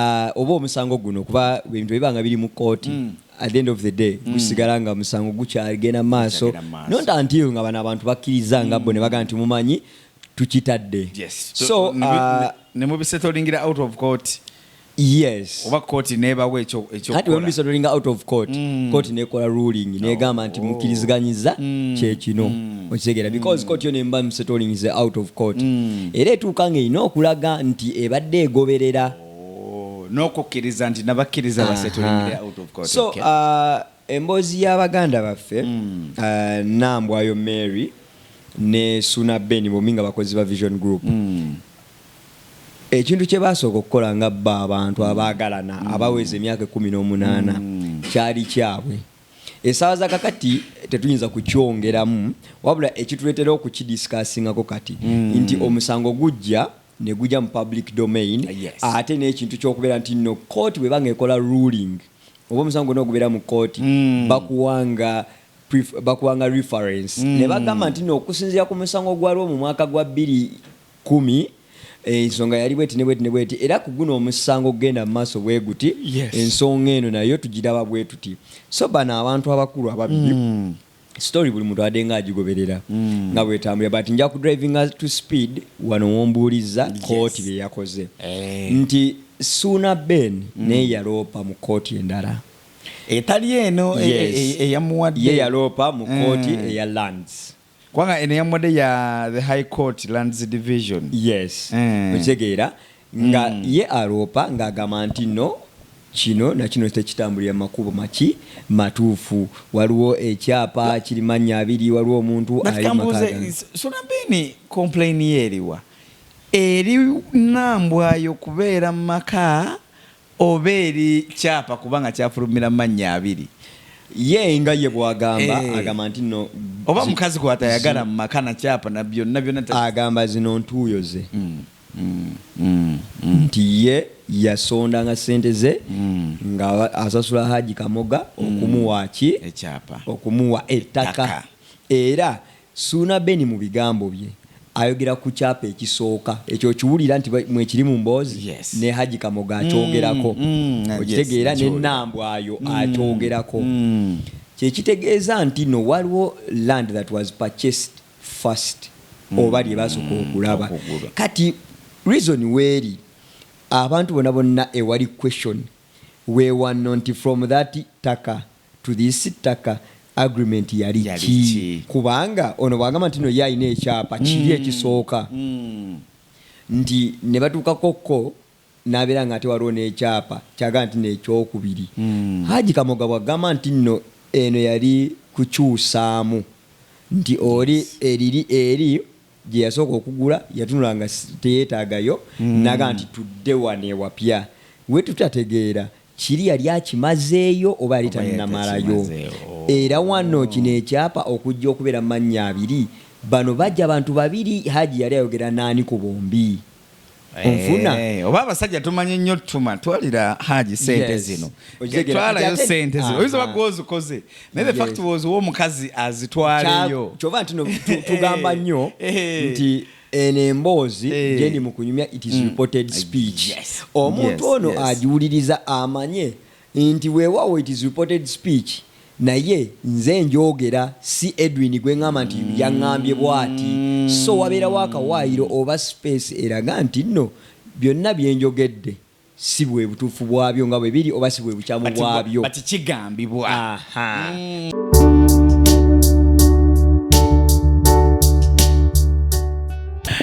ah, oba omusango guno kuba ebintu ebiba nga biri mu kooti mm. at the end of the day mm. gusigala nga musango gukyagenda mu maaso not until nga bano abantu bakkiriza nga bo ne bagamba nti mumanyi tukitadde so ah, ne mubisetolingira out of court yes oba kooti nebawo ekyoati wemubisetolinga out of court kooti nekola ruling negamba nti mukiriziganyiza kyekino okitegeera mm. because court yo nemba settling ze out of court mm. era etuuka nga erina okulaga nti ebadde egoberera oh, n'okukkiriza nti nabakkiriza basetulingire out of court so okay. uh, emboozi y'abaganda baffe mm. uh, nambwayo mary ne suna ben bomi nga bakozi ba vision group mm. ekintu kye baasooka okukola nga bba abantu abaagalana mm. abaweza emyaka ekumi n'omunaana mm. kyali kyabwe esaawa za kakati tetuyinza kukyongeramu wabula ekituleetera okukidisikasingako kati mm. nti omusango gujja negujja mu public domain yes. ate n'ekintu kyokubeera nti no kooti bweba nga ekola ruling oba omusango gona ogubeera mu kooti mm. bakuwanga bakuwanga reference mm. ne bagamba nti no okusinziira ku musango gwalwo mu mwaka gwa bbiri Kkumi, ensonga yali bweti ne bweti ne bweti era ku guno omusango okugenda mu maaso bwe guti, ensonga eno nayo tugiraba bwe tuti. So bano abantu abakulu ababiri, story buli muntu abadde nga agigoberera nga bw'etambulira but nja ku drivinga to speed wano w'ombuulizza kkooti bye yakoze nti Ssuuna Ben naye yaloopa mu kkooti endala etali eno eyamuwadde, ye yaloopa mu kkooti eya Lands. kubanga eno yamuwadde ya the high court lands division yes eh. okitegeera nga mm. ye aloopa ng'agamba nti no kino nakino tekitambulira makubo maki matuufu waliwo ekyapa kiri mannya abiri waliwo omuntu alimakasunabini komplaini ye eriwa eri nambwayo kubeera mu maka oba eri kyapa kuba nga kyafulumira mu mannya abiri. Ye nga ye bw'agamba, Eh. agamba nti nno Oba zi- mukazi gw'atayagala mu maka na kyapa na byonna byonna ta- agamba zino ntuuyo ze nti ye yasondanga ssente ze nga aba- asasula Haji Kamoga okumuwa ki ekyapa. okumuwa ettaka Ttaka. era Ssuuna Ben mu bigambo bye ayogera ku kyapa ekisooka ekyo okiwulira nti mwekiri mu mboozi Yes. ne Hajji Kamoga Mm, akyogerako mm, yes, okitegeera ne nakiwulira. Nambwayo Mm, akyogerako mm. kye kitegeeza nti no waliwo land that was purchased first Mm, oba lye basooka mm, okulaba okugula. kati reason weeri abantu bona bonna ewali question wewanno nti from that taka to this ttaka agreement yali ki kubanga ono bwagamba nti no ye alina ekyapa kiri mm. ekisooka mm. nti nebatuukako ko nabeera nga ate waliwo nekyapa kyagamba nti nekyokubiri mm. haji kamoga bwagamba nti no eno yali kukyusaamu nti oli eriri eri gyeyasooka okugula yatunula nga teyetagayo mm. naga nti tudde wano ewapya wetutategeera Kiri yali akimazeeyo oba yali Oba yali tannamalayo? takimazeewo. Era wano kino ekyapa okujja okubeera mu mannya abiri, bano baggya bantu babiri, Hajji yali ayogera n'ani ku bombi? Onfuna? Eh, oba abasajja tumanyi nnyo tuma twalira haji sente Yes. zino Okitegeera. twalayo Kati ate- sente zino oyinza Aha. oba gwozikoze naye the fact Yes. was wo omukazi azitwaleyo Kya- kyova nti no tu- tugamba nnyo Eh. nti eno emboozi eh. gyendi mu kunyumya it is mm. reported mm. speech yes. omuntu yes. ono yes. agiwuliriza amanye nti weewaawo it is reported speech naye nze njogera si edwin gwe ŋŋamba nti mm. yaŋŋambye bwati so wabeerawo akawaayiro oba space eraga nti nno byonna byenjogedde si bwe butuufu bwabyo nga bwe biri oba si bwe bukyamu bwabyo but kigambibwa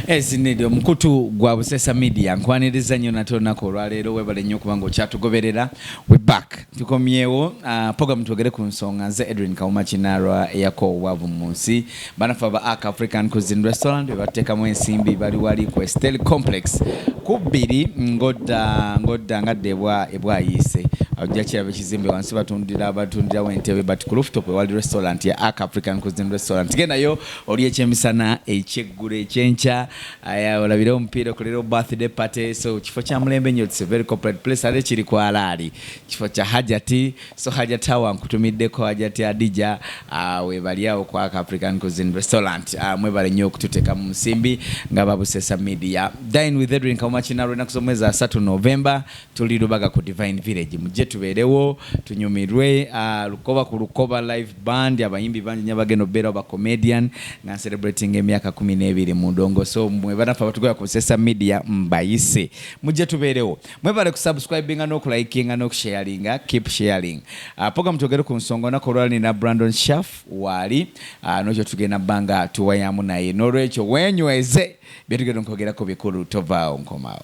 ezinidi omukutu gwa busesa media nkwaniriza nnyo nate olunaku olwaleero webale nnyo okuba nga okyatugoberera we back tukomyewo uh, program twogere ku nsonga nze edwin kawuma kinarwa eyako obwavu mu nsi banafe aba ak african cuisine restaurant bebateekamu ensimbi bali wali ku estel complex ku bbiri ngodda ngodda ngadda ebwa ebwayiise ojja kiraba ekizimbe wansi batundira batundirawo entebe but ku rooftop ewali restaurant ya ak african cuisine restaurant gendayo oli ekyemisana ekyeggulo ekyenkya aya olabire omupiira okolera birthday party so kifo kya mulembe nyo it's a very corporate place ate kiri ku alaali kifo kya hajati so hajati awa nkutumiddeko hajati adija uh, webali awo ku african cuisine restaurant uh, ah, mwebale nnyo okututeka mu nsimbi nga babusesa media dine with edwin kaumachina lwenaku z'omwezi asatu novemba tuli lubaga ku divine village mujje tubeerewo tunyumirwe uh, lukoba ku lukoba live band abayimbi bangi nyo abagenda obeerawo ba comedian nga ncelebratinga emyaka kumi n'ebiri mu ndongo so mwe banaffe abatugala ku sesa media mbayise mujje tubeerewo mwebale kusubscribinga n'okulayikinga n'okusharinga keep sharing uh, program twogere ku nsonga onaku olwala nina brandon shaf waali uh, nokyo tugenda bbanga tuwayamu naye n'olwekyo wenyweze byetugenda nkogerako bikulu tovaawo nkomawo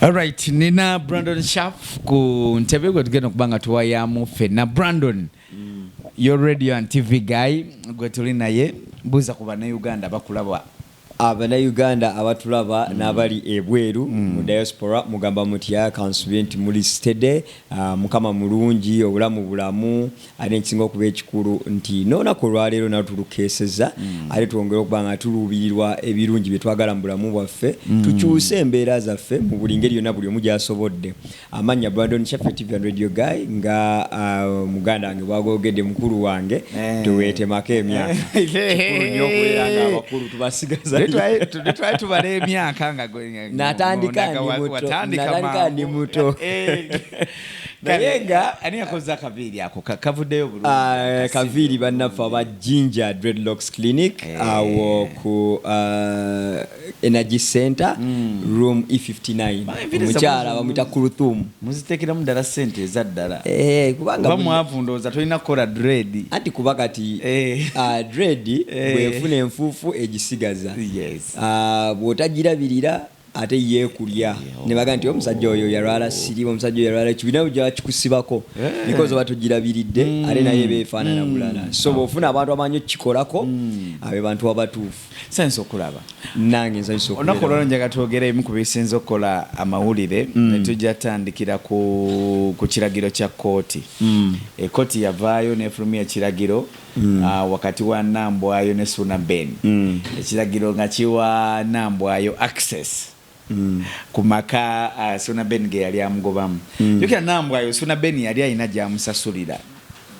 Alright, nina Brandon Sharp ku ntebe gwe tugenda okuba nga tuwayamu fenna Brandon mm. your radio and TV guy gwe tuli naye buuza ku bannayuganda bakulaba abannayuganda abatulaba mm. n'abali ebweru mm. mu diaspora mugamba mutya kansubi nti muli stede uh, mukama mulungi obulamu bulamu ate ekisinga okuba ekikulu nti n'olunaku olwaleero nalo tulukeeseza mm. ate twongere okuba nga tuluubirirwa ebirungi bye twagala mu bulamu bwaffe mm. tukyuse embeera zaffe mu buli ngeri yonna buli omu gyasobodde amannya brandon shaffe tv and radio guy nga uh, muganda wange bwagogedde mukulu wange eh. teweetemako emyaka abakulu tubasigatwali tubala emyaka nga natandika ndi muto naye nga ani yakoze akaviiri ako kavuddeyo bulungi ah, kaviiri bannaffe aba ginger dreadlocks clinic eh. awo ku ah, energy center hmm. room e59 omukyala bamwita kuruthum muzitekeramu ddala sente eza ddala eh, kuba mwavu ndowooza tolina kukola dread anti kuba kati eh. ah, dread bwefuna enfuufu egisigaza bwotagirabirira ate ye kulya ne bagamba nti omusajja oyo yalwala sirimu omusajja yalwala kibina ujja kikusibako eh. because oba tujirabiridde mm. ate naye befaanana mm. bulala so bwofuna abantu amanyi okikolako mm. abe bantu abatuufu sansa okulaba nange nsanyusa olunaku olwalo njaga twogera emu ku bisinza okukola amawulire ne tujja tandikira ku kiragiro kya kkooti ekkooti yavaayo nefulumya ekiragiro mm. uh, wakati wa nambwayo ne suna ben mm. ekiragiro nga kiwa nambwayo access Mm. ku maka uh, ah, suna ben ge yali amugobamu mm. yokera nambwayo suna ben yali alina gyamusasulira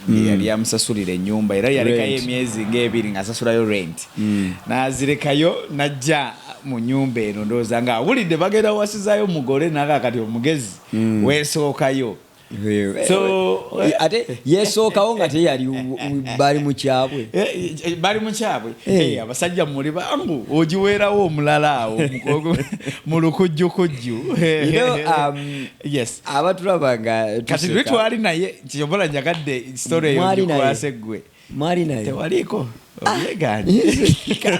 mm. yali amusasulira enyumba era yalekayo emyezi ngaebiri ngaasasulayo rent mm. nazirekayo najja mu nyumba eno ndowooza nga awulidde bagenda wasizayo mugole naga kati omugezi mm. wesookayo ate yesookawo nga teyali bali mukyabwe eh, eh, eh, bali mukyabwe abasajja muli bangu ogiweerawo omulala awo mu lukujjukujju um, abatulaba nga kati lwe twali naye kyobola njagadde story eyo gikwase ggwe mwali nayo tewaliko obyeganye kale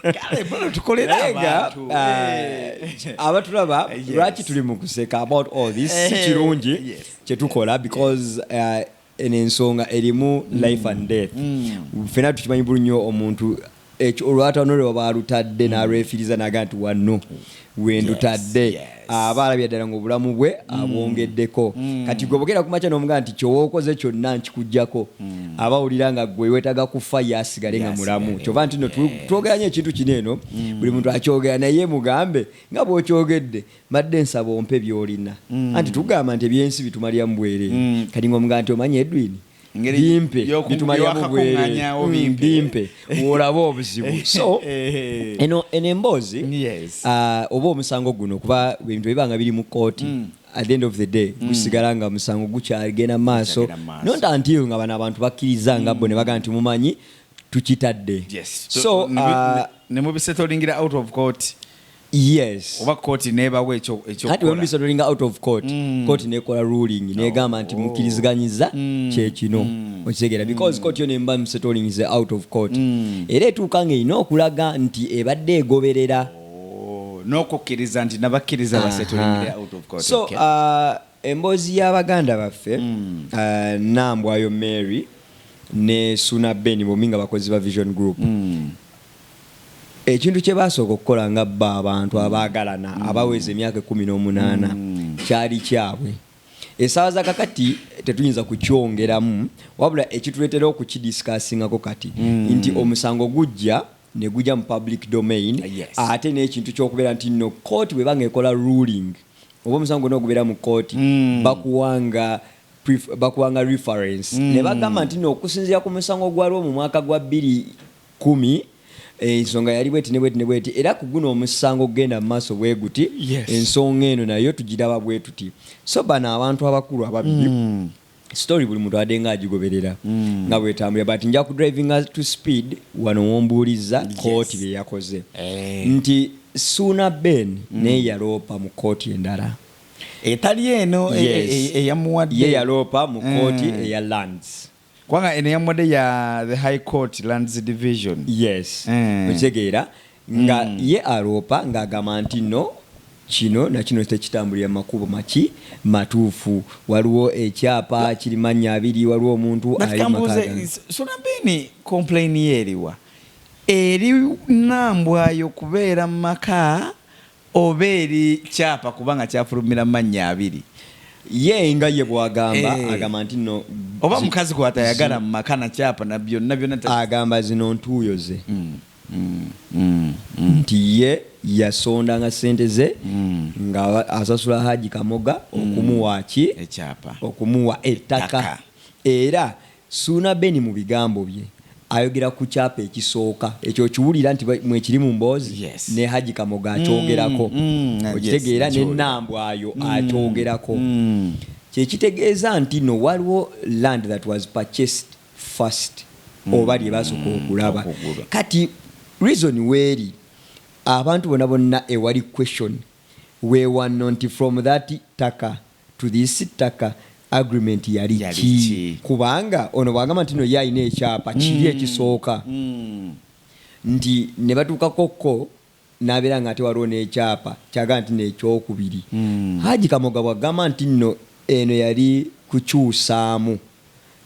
kale bano tukolera Naye nga, abantu ah, Eh. abatulaba Yes. lwaki tuli mu kuseka about all this si Eh, kirungi yes. kyetukola because uh, eno ensonga erimu life and death Mm. fena tukimanyi bulu nnyo omuntu Ekyo olwatono lwe baba alutadde n'alwefiriza n'agamba nti wano we ndutadde, aba alabye ddala ng'obulamu bwe abwongeddeko. Kati ggwe bw'ogenda ku makya n'omugamba nti kye wookoze kyonna nkikuggyako, aba awulira nga ggwe weetaaga kufa ye asigale nga mulamu. Ky'ova nti nno tu, twogera nnyo ekintu kino eno, buli muntu akyogera naye mugambe nga bw'okyogedde, mbadde nsaba ompe by'olina. Anti tugamba nti eby'ensi bitumaliramu bwereere. Kati ng'omugamba nti omanyi Edwin, bimpe bitumaliamu bwereanyawo mm, bimpe olaba obuzibu eh, so eh, eh. eno eno emboozi ah, oba omusango guno kuba ebintu ebibanga biri mu kooti mm. at the end of the day mm. gusigala nga musango gukyagenda mu maaso not until nga bano abantu bakkiriza nga bo ne bagaa nti mumanyi tukitadde so ah, ne mubisetolingira out of court yes oba kooti nebawa kati wembisodolinga out of court mm. kooti nekola ruling negamba nti oh. mukiriziganyiza mm. kyekino mm. okitegeera because kooti yo nemba msetolingize out of court era etuuka nga erina okulaga nti ebadde egoberera oh, nokukkiriza nti nabakkiriza basetolingire out of court so okay. uh, emboozi y'abaganda baffe mm. uh, nambwayo mary ne suna ben bomi nga bakozi ba vision group mm. Ekintu kye baasooka okukola nga bo abantu abaagalana abaweza emyaka ekkumi n'omunaana kyali kyabwe. Essaawa za kakati tetuyinza kukyongeramu wabula ekituleetera okukidisikasingako kati nti omusango gujja ne gugya mu public domain ate n'ekintu ky'okubeera nti nno kkooti bw'eba ng'ekola ruling oba omusango gwonna ogubeera mu kkooti bakuwa nga bakuwa nga reference ne bagamba nti nno okusinziira ku musango gwalwo mu mwaka gwa bbiri Kkumi, ensonga yali bweti ne bweti ne bweti era ku guno omusango okugenda mu maaso bwe guti, ensonga eno nayo tugiraba bwe tuti. So bano abantu abakulu ababiri, story buli muntu abadde nga agigoberera nga bw'etambulira but nja ku drivinga to speed wano w'ombuulizza kkooti bye yakoze nti Ssuuna Ben naye yaloopa mu kkooti endala etali eno eyamuwadde, ye yaloopa mu kkooti eya Lands. kubanga eno yamuwadde ya the high court lands division yes eh. okitegeera nga mm. ye aloopa ng'agamba nti no kino nakino tekitambulira makubo maki matuufu waliwo ekyapa kiri mannya abiri waliwo omuntu alimakasunabini komplaini ye eriwa eri nambwayo kubeera mu maka oba eri kyapa kuba nga kyafulumira mu mannya abiri. Ye nga ye bw'agamba, Eh. agamba nti nno Oba zi- mukazi gw'atayagala mu maka na kyapa na byonna byonna ta- agamba zino ntuuyo ze nti ye yasondanga ssente ze nga aba- asasula Haji Kamoga okumuwa ki ekyapa. okumuwa ettaka Ttaka. era Ssuuna Ben mu bigambo bye ayogera ku kyapa ekisooka ekyo okiwulira nti mwekiri mu mboozi Yes. ne Hajji Kamoga Mm, akyogerako mm, yes, okitegeera ne nakiwulira. Nambwayo Mm, akyogerako mm. kye kitegeeza nti no waliwo land that was purchased first Mm, oba lye basooka mm, okulaba okugula. kati reason weeri abantu bona bonna ewali question wewanno nti from that taka to this ttaka agreement yali ki kubanga ono bwagamba nti no ye alina ekyapa kiri mm. ekisooka mm. nti nebatuukako ko nabeera nga ate waliwo nekyapa kyagamba nti nekyokubiri mm. haji kamoga bwagamba nti no eno yali kukyusaamu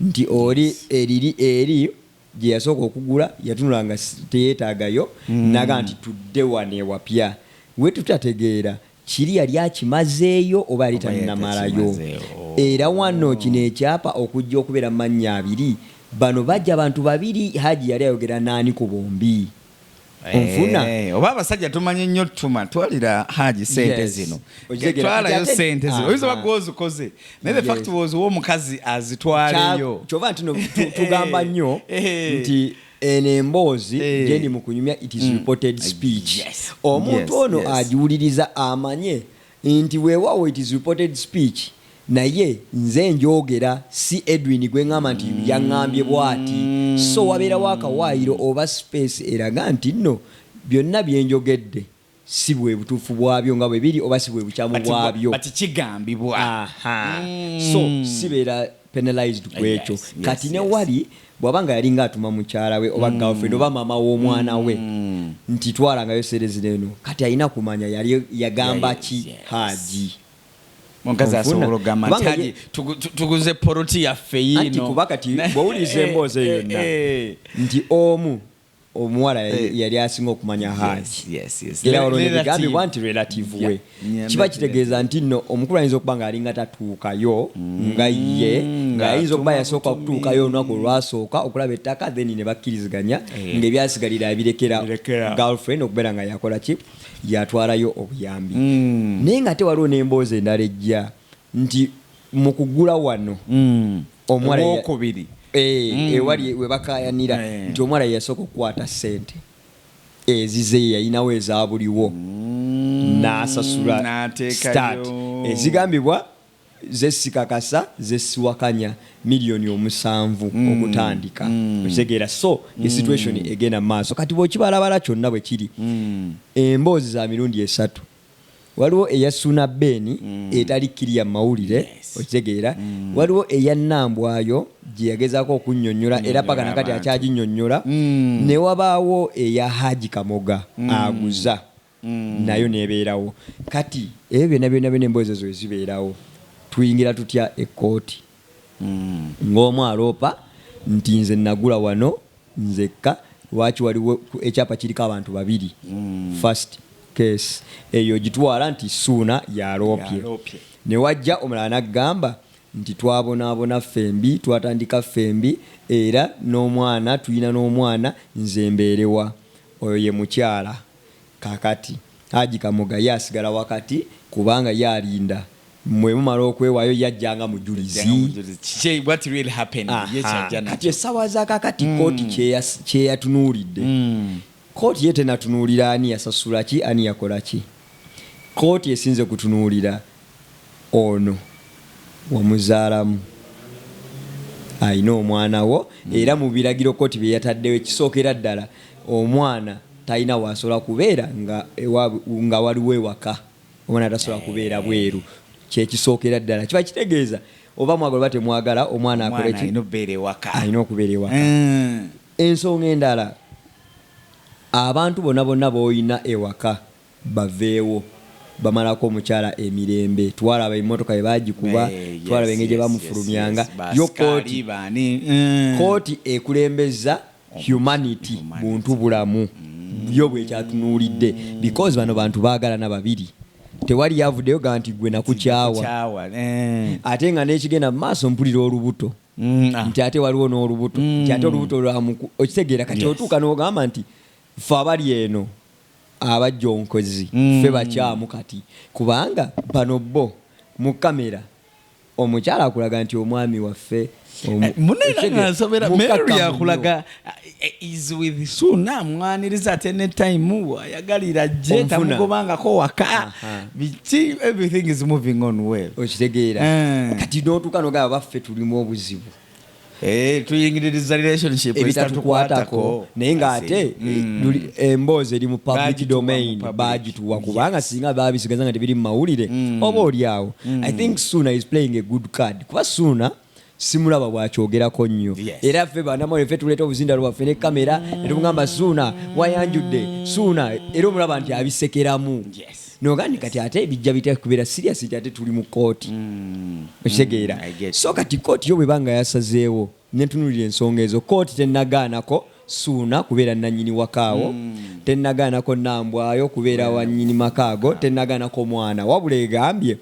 nti oli eriri eri gyeyasooka okugula yatunula nga teyetagayo mm. naga nti tudde wano ewapya wetutategeera Kiri yali akimazeeyo oba yali tannamalayo? Era wano kino ekyapa okujja okubeera mu mannya abiri, bano bajja bantu babiri, Hajji yali ayogera n'ani ku bombi? Onfuna? Eeh, oba abasajja tumanyi nnyo ttuma, twalira Haji ssente Yes. zino, Okitegeera? Kati twalayo ate- ssente zino, oyinza oba Aha. gwe ozikoze, naye the Yes. fact was omukazi azitwaleyo. Kya- kyova nti no tu- tugamba nnyo Eh. nti eno emboozi eh. gyendi mu kunyumya it is mm. reported mm. speech yes. omuntu yes. ono yes. agiwuliriza amanye nti weewaawo it is reported speech naye nze njogera si edwin gwe ŋŋamba nti mm. yaŋŋambye bwati so wabeerawo akawaayiro oba space eraga nti nno byonna byenjogedde si bwe butuufu bwabyo nga bwe biri oba si bwe bukyamu But, bwabyo but kigambibwa Aha. so sibeera penalized ku ekyo Yes, yes, kati ne yes. wali bw'aba nga yali ng'atuma mukyala we oba girlfriend oba maama w'omwana we nti twalangayo serezina eno kati alina kumanya yali yagamba Yes, ki yes. haaji omukazi Onfuna? asobola okugamba nti Kubanga haji ye- tugu- tu- tuguze poloti yaffe yiino anti kuba kati Na- bw'owuliriza emboozi eyo Eh, yonna eh, eh. nti omu omuwala eh. yali asinga okumanya hajera olwo nebigambibwa nti relative we kiba kitegeeza nti no omukulu ayinza okuba nga alinga tatuukayo mm. nga ye nga ayinza okuba yasooka okutuukayo olunaku olwasooka okulaba ettaka then ne bakkiriziganya eh. ngaebyasigalira abirekera girlfriend okubeera nga yakola ki yatwalayo obuyambi mm. naye nga ate waliwo n'emboozi endala ejja nti mu kugula wano omuwala ye- Owokubiri. Eh, ewali webakayanira Eh. nti omuwala yeyasooka okukwata sente ezize yeyalinawo ezabuliwo n'asasula n'ateekayo. start ezigambibwa zesikakasa zesiwakanya miliyoni omusanvu okutandika okitegeera so the situation egenda mu maaso kati bwekibalabala kyonna bwekiri emboozi za mirundi esatu Waliwo eya Suuna Ben etali kiriya mu mawulire, okitegeera. Waliwo eya Nambwayo gye yagezaako okunnyonnyola era paka na kati akyaginnyonnyola. Ne wabaawo eya Haji Kamoga aguza, nayo n'ebeerawo. Kati ebyo byonna byonna byonna emboozi ezo bwe zibeerawo tuyingira tutya ekkooti? Ng'omu aloopa nti, Nze nnagula wano nzekka, lwaki waliwo ekyapa kiriko abantu babiri? First case eyo ogitwala nti Ssuuna y'aloopye. Ne wajja omulala n'agamba nti, Twabonaabona ffembi, twatandika ffembi era n'omwana tulina n'omwana, nze mbeere wa? Oyo ye mukyala. Kakati Haji Kamoga ye asigala wakati kubanga ye alinda mwe mumala okwewayo ye ajja nga mujulizi. Aha. Kati essawa za kakati kooti kyeyatunuulidde. Kooti ye tenatunuulira ani yasasula ki, ani yakola ki. Kooti esinze kutunuulira Ono wamuzaalamu alina omwana wo era mu biragiro kkooti bye yataddewo ekisookera ddala omwana talina w'asobola kubeera nga waliwo ewaka, omwana tasobola kubeera bweru kye kisookera ddala. Kiba kitegeeza oba mwagala oba temwagala omwana akole ki? Alina okubeera ewaka. Ensonga endala abantu bona bonna b'olina ewaka. baveewo bamalako omukyala emirembe twalaba emotoka bwebagikuba twalaba engeri gyebamufulumyanga yo kooti kooti ekulembezza humanity buntu bulamu yo bwekyatunulidde because bano bantu bagalana babiri tewali yavudeyo ga nti gwe nakukyawa ate nga nekigenda mumaaso mpulira olubuto mm, ah. nti ate waliwo nolubuto nti ate mm. olubuto lwamuku okitegeera kati otuuka nogamba nti fe abali eno abajjonkozi ffe bakyamu kati kubanga bano bo mu camera omukyala akulaga nti omwami waffe omu- Eh, munene ekitegeeza, nga nsomera mukakamu mary nnyo. yakulaga eh, is with suna amwaniriza ate ne time ayagalira je Omufuna. tamugobangako waka Aha. biki everything is moving on well okitegeera Eh. kati notuuka nogaba baffe tulimu obuzibu Eh, tuyingiririza relationship ebitatukwatako naye ngaate mm. emboozi eri mu public domain bagituwa kubanga singa babisigaza nga tebiri mumawulire mm. oba olyawo mm. i think suna is playing a good card kuba suna simulaba bwakyogerako nnyo era ffe banamawe ffe tuleeta obuzinda lwaffe ne kamera netugamba suuna wayanjudde suuna era omulaba nti abisekeramu nogandi kati ate bijja bitya kubeera serious nti ate tuli mu kooti mm. okitegeera mm, so kati kooti yo bweba nga yasazeewo netunulira ensonga ezo kooti tenagaanako suuna kubeera nanyini wakaawo mm. tenagaanako nambwayo kubeera yeah. wanyini makaago tenagaanako mwana wabula egambye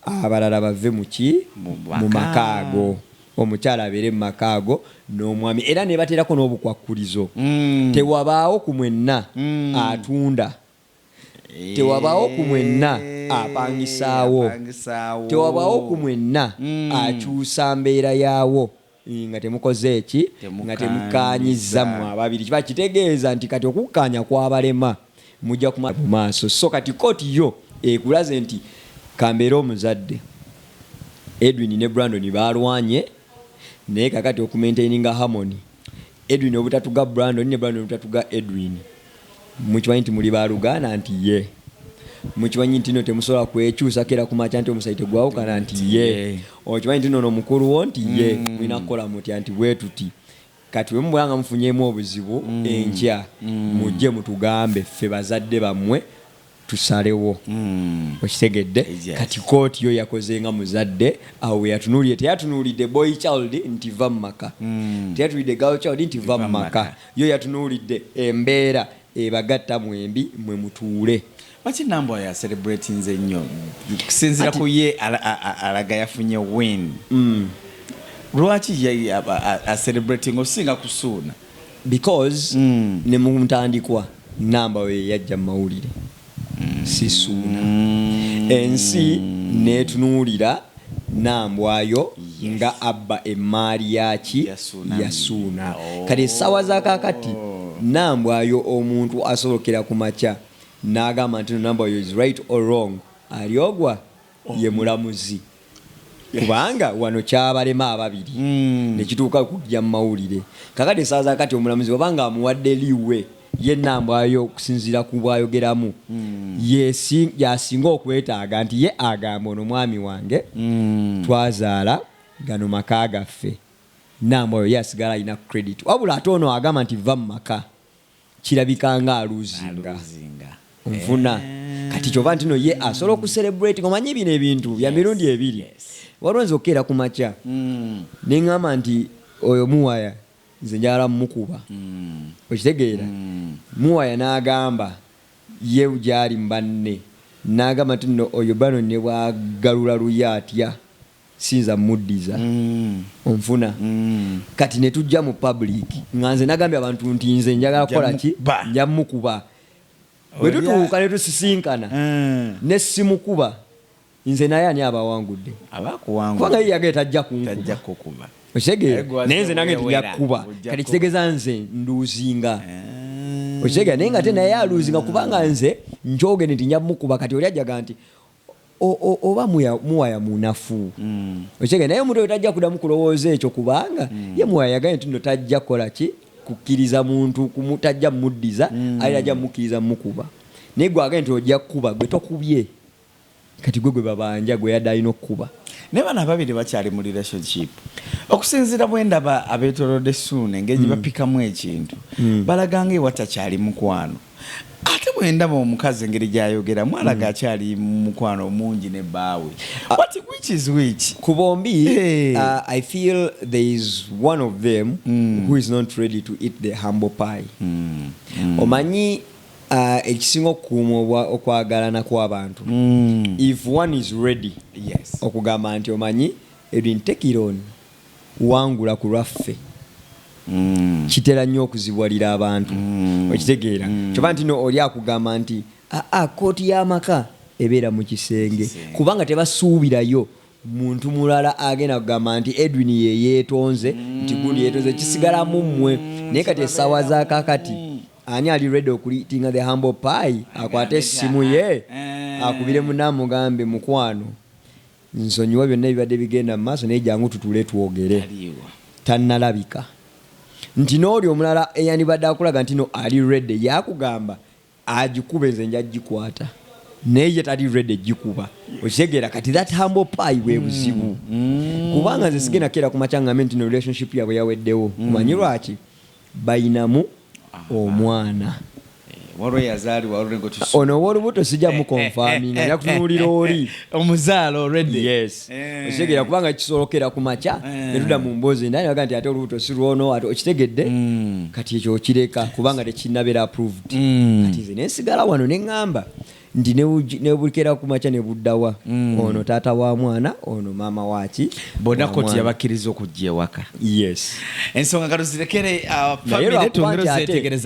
abalala bave muki mu makaago omukyala abeere mu makaago n'omwami era nebaterako n'obukwakkulizo mm. tewabaawo ku mwenna mm. atunda Tewabaawo ku mwenna apangisaawo. Tewabaawo ku mwenna akyusa mbeera yaawo nga temukoze ki? Nga temukkaanyizza mmwe ababiri. Kiba kitegeeza nti kati okukkaanya kwabalema, mujja kumala mu maaso. So kati kkooti yo ekulaze nti kambeere omuzadde, Edwin ne Brandon baalwanye naye kaakati okumentaininga harmony. Edwin obutatuga Brandon ne Brandon obutatuga Edwin mukimanyi nti muli baluganda nti ye mukimanyi nti no temusobola kwekyusako era kumakya nti omusayi tegwawukana nti ye okimanyi nti nono mukulu wo nti ye mm. mulina kukola mutya nti bwetuti kati bwe mubeera nga mufunyemu obuzibu mm. enkya mm. mujje mutugambe ffe bazadde bammwe tusalewo mm. okitegedde yes. kati kooti yo yakoze nga muzadde awo weyatunulire teyatunulidde boy child nti va mumaka mm. teyatunulidde gal child nti va mumaka yo yatunulidde embeera ebagatta mwembi mwe mutuule lwaki nambwa ya celebratinz ennyo kusinzira ku ye alaga yafunye win mm. lwaki a celebrating osinga kusuuna because mm. ne mu ntandikwa namba we yajja mawulire mm. sisuuna mm. ensi netunuulira nambwayo yes. nga abba emmaali yaki yasuuna oh. kati essaawa zakakati nambwayo omuntu asobokera ku makya n'agamba nti nambwayo is right or wrong alyogwa ye mulamuzi kubanga wano kyabalema ababiri mm. nekituuka kujja mu mawulire kakati esaaza kati omulamuzi waba nga amuwadde liwe ye nambwayo okusinziira ku bwayogeramu mm. yasinga okwetaaga nti ye agamba ono mwami wange mm. twazaala gano maka gaffe nambwayo ye asigala alina credit wabula ate ono agamba nti va mu maka Kirabika nga aluzinga nfuna kati kyova ntino ye asobola oku celebrate omanyi bino ebintu bya mirundi ebiri waliwo nze okukeera ku makya mm. ne ngamba nti oyo muwaya nze njagala mukuba mm. okitegeera mm. muwaya n'agamba ye gyali mubanne n'agamba nti no oyo bano ne bwagalula luye atya siyinza muddiza onfuna kati ne tujja mu public nga nze nagambye abantu nti nze njagala kukola ki nja mukuba bwe tutuuka ne tusisinkana eh. ne simukuba nze naye ani abawangudde kubanga ye yagee tajja kunkuba okitegeera naye nze nange tujja kukuba kati kitegeeza nze nduuzinga eh. okitegeera naye nga te naye aluuzinga kubanga nze njogende nti nja mukuba kati oli ajaga nti oba muwaya munafu okitegeera naye omuntu oyo tajja kudamu kulowooza ekyo kubanga mm. ye muwaya yagaye nti no tajja kukola ki kukkiriza muntu tajja muddiza mm. ali ajja mukkiriza mukuba naye gwe agaye nti ojja kukuba gwe tokubye kati gwe gwe babanja gwe yadde alina okukuba naye bano ababiri bakyali mu relationship okusinziira bwendaba abetolode suuna engeri gye mm. bapikamu ekintu mm. balaganga ewatakyali mukwano Ate bwendaba omukazi engeri gyayogera mwalaga mm. akyali mukwano omungi ne baawe ku bombi uh, i feel there is one of them mm. who is not ready to eat the humble pie mm. Mm. omanyi uh, ekisinga okukuuma okwagalana kw'abantu mm. if one is ready yes. okugamba nti omanyi ebintekironi wangula ku lwaffe mm. kitera nnyo okuzibwalira abantu mm. okitegeera mm. kyoba nti no oli akugamba nti aa ah, ah, kooti y'amaka ebeera mu kisenge kubanga tebasuubirayo muntu mulala agenda kugamba nti edwin yeyeetonze nti gundi yeetonze kisigalamu mmwe naye kati essaawa zakakati ani ali redi okulitinga the humble pie akwate essimu ye eh. akubire munamugambe mukwano Nsonyiwa byonna ebibadde bigenda mu maaso naye jangu tutuule twogere. Tannalabika. Nti n'oli omulala eyandibadde akulaga ntino ali ready yakugamba agikube nze nja gikwata naye ye tali ready gikuba. Okitegeera kati that humble pie bwe buzibu. Mm. Mm. Kubanga nze sigenda keera ku makya ngambe ntino relationship yabwe yaweddewo. Mm. Omanyi lwaki? bayinamu omwana. Ono owolubuto sija mu confirminga nja kutunulira oli omuzaala already yes eh. okitegera kubanga kisolokera ku makya eh. netuda mu mbozi naye naga nti ate olubuto si lwono ate okitegedde hmm. kati ekyo okireka kubanga tekinabera approved hmm. kati nze nensigala wano nengamba nti nebukera kumakya nebuddawa mm. ono taata wa mwana ono maama waki bonna koti yabakkiriza okujja ewaka yes ensonga nga tuzirekere uh,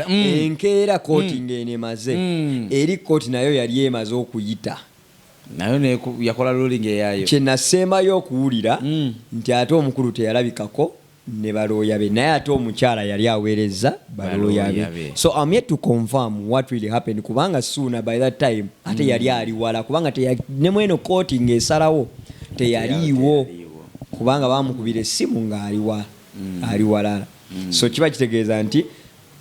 mm. enkeera koti mm. ng'eno emaze mm. eri koti nayo yali emaze okuyita nayo yakola lulinga eyayo kyenasembayo okuwulira mm. nti ate omukulu teyalabikako ne balooya be naye ate omukyala yali aweerezza balooya be so am yet to confirm what really happened kubanga suuna by that time ate mm. yali ali wala kubanga ne mweno kooti ng'esalawo teyaliiwo kubanga bamukubira essimu ng'ali wa mm. ali walala mm. so kiba kitegeeza nti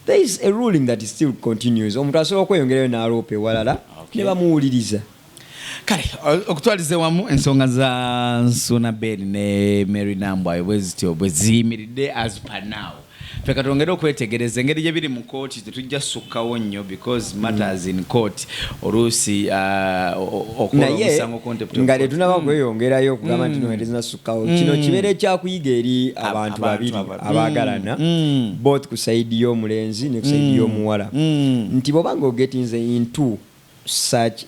there is a ruling that still continues omuntu asobola okweyongerayo n'aloopa ewalala ne bamuwuliriza kale okutwaliza ewamu ensonga za nsuna ben ne mary nambwayo bwe zityo bwe ziyimiridde as per now ffe katwongere okwetegereza engeri gye biri mu kooti tetujja sukkawo nnyo because matters in court oluusi uh, okola omusango contempt of nga court. letunaba Hmm. kweyongerayo okugamba nti noerizina sukkawo kino kibeera ekyakuyiga eri abantu abantu babiri aba- Hmm. abaagalana both ku saidi y'omulenzi ne ku saidi y'omuwala nti bwoba nga ogetinze into such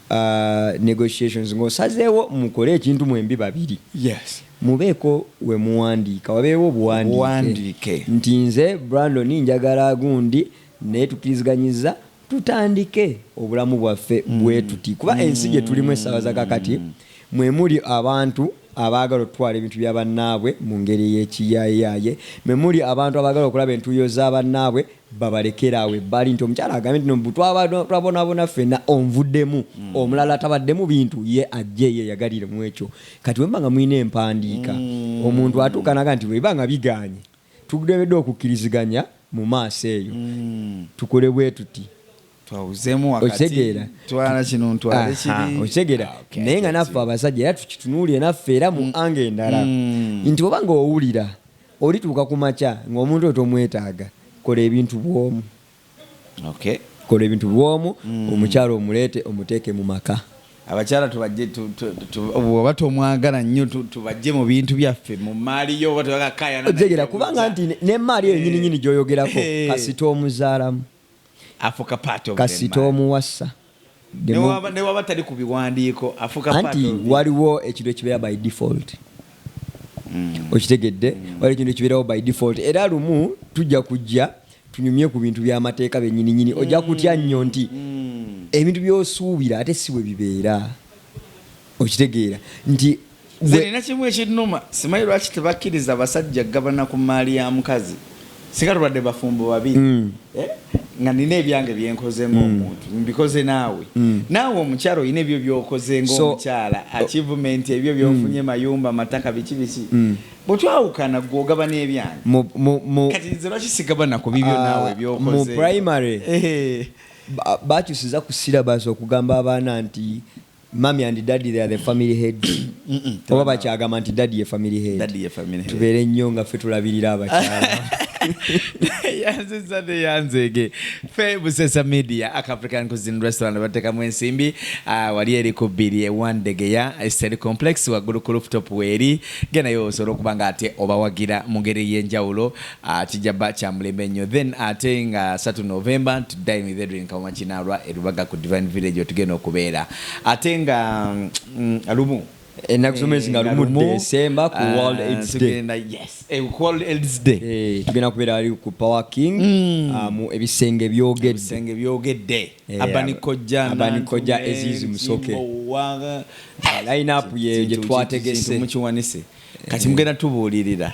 a negotiations nga osazeewo mukole ekintu mwembi babiri mubeeko wemuwandiika wabeewo obuwandiike nti nze Brandon njagala gundi naye tukiriziganyizza tutandike obulamu bwaffe bwetuti kuba ensi gyetulimu essaawa zakakati Mwe muli abantu abaagala okutwala ebintu bya bannaabwe mu ngeri ey'ekiyaayeyaaye. Mwe muli abantu abaagala okulaba entuuyo za bannaabwe babalekere awo ebbali nti omukyala agambye nti no mbu twabadde twabonaabona ffenna onvuddemu. Omulala atabadde mu bintu ye ajje yeeyagalire mu ekyo. Kati bwe muba nga mulina empandiika omuntu atuuka n'agamba nti bwe biba nga bigaanye tulemedde okukkiriziganya mu maaso eyo tukole bwe tuti. twawuzemu wakatiokitegera ah, naye nga naffe abasajja era tukitunuulire naffe era mu mm. anga endala mm. nti oba nga owulira olituuka ku makya ngaomuntu oyo tomwetaaga kola ebintu bwomu kola ebintu bwomu mm. omukyalo omuleete omuteeke mu maka abakyala tubajje oba tomwagala nnyo tubajje mu bintu byaffe mu maali yo oba tebakakayana kubanga nti nemaali eyo nyininyini gyoyogerako kasita omuzaalamu kasita omuwasa newaba tali ku biwandiiko anti waliwo ekintu ekibeera by default mm. okitegedde mm. waliwo ekintu ekibeerawo by default era lumu tujja kujja tunyumye ku bintu by'amateeka benyininyini mm. ojja kutya nnyo nti ebintu by'osuubira ate si bwe bibeera okitegeera nti nze nina kimu ekinnuma simanyi lwaki tebakkiriza basajja kugabana ku mmaali ya mukazi singa tubadde bafumbo babiri mm. eh? nga nina ebyange byenkoze ngaomuntu mm. mbikoze naawe mm. naawe omukyala olina ebyo byokoze ngaomukyala oh. achievement ebyo byofunye mayumba mataka biki biki bwetwawukana gwe ogabana ebyange kati nze lwaki sigabana ku bibyo ah, naawe byokoze mu primary eh. bakyusiza ku syllabus okugamba abaana nti Mummy and daddy they are the family heads oba bakyagamba nti daddy ye family head tubeere nnyo nga ffe tulabirira abakyala yanziza ne yanzege fe busesa media ak african cuisine restaurant batekamu ensimbi ah, wali eri ku bbiri ewandegeya eseri complex waggulu ku rooftop weeri genayo osobola okuba nga ate obawagira mu ngeri ey'enjawulo Ah, kijja ba kya mulembe nnyo then ate nga 3 november ntuddayo with edwin kawuma kinaalwa erubaga ku divine village otugenda okubeera ate nga mm, lumu ennaku z'omwezi nga lumu desemba ku world ah, aids day eh, ku world aids day eh, tugenda kubeera ali ku power king hmm. ah, mu ebisenge byogedde byogedde eh, abanikojja abanikojja ezizi musoke line up ye gye twategese mukiwanise kati mugenda tubuulirira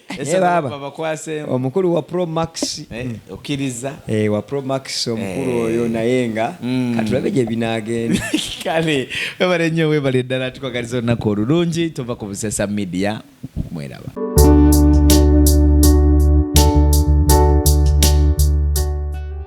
Ese Eh, baba. babakwaseemu. omukulu wa pro max Eh, okkiriza eh, wa pro max omukulu Eh. oyo naye nga Mm. katulabe gye binaagenda kale webale nnyo webale ddala tukwagaliza olunaku olulungi tova ku busesa media mweraba